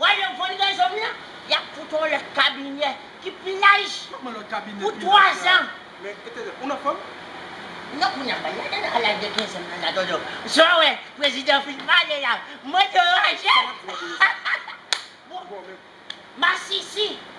Wè lè von rezon m nan? Y ap fout on lòt kabinè ki pi laj pou twazan. Ou nan fòm? Non kounye a banda gen nan laj de kenzan nan la dodo. Sa w wè prezidan fin pale la, m anderanjel. Bon masisi.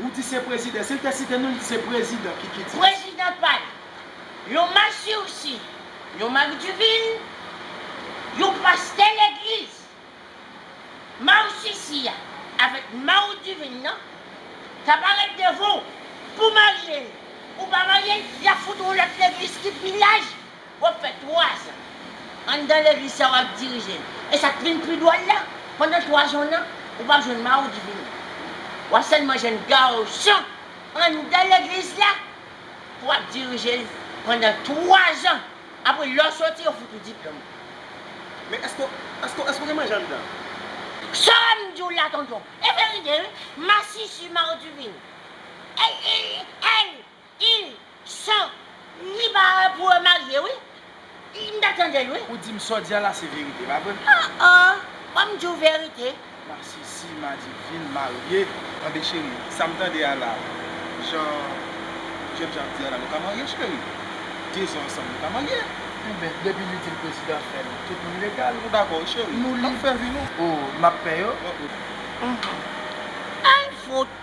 Ou di se prezidan. Sil te site non li di se prezidan kiki di. Prezidan pal. Yon masirsi. Yon Marie Duvin. Yon pastè legliz. Marsisi ya avek Marie Duvin nan. Ta paret devan w. Pou marye l. Ou pa marye l. Ya fout yon lot legliz ki pi laj. Wap fè 3 zan anndan legliz sa wap dirije l e sak t vin pi dwòl la pandan 3 zan w nan ou pap jwenn maudi vini wap sèlman jwenn garçon anndan legliz la pou wap dirije l pandan 3 zan apre lè w soti yo fout ou diplòm ou. Men eske w eske w eske w gen manje anndan? Sam di w la tonton e verite wi masisi maudi vini el el el Yn San ni ba a pou yo marye wi m ta tandel wi. Ou dim saw di a la se verite pa vre. Ah ah wam diw verite. Masisi madivine marye tande cheri sam tande a la jan jèn jan ap di a la nou ka marye cheri dezan ansanm nou ka marye. Enben depi li dil prezidan fèl tout moun legal. Nou dakò wi cheri nap fè vi nou. Oh map pè yo. Anh fout.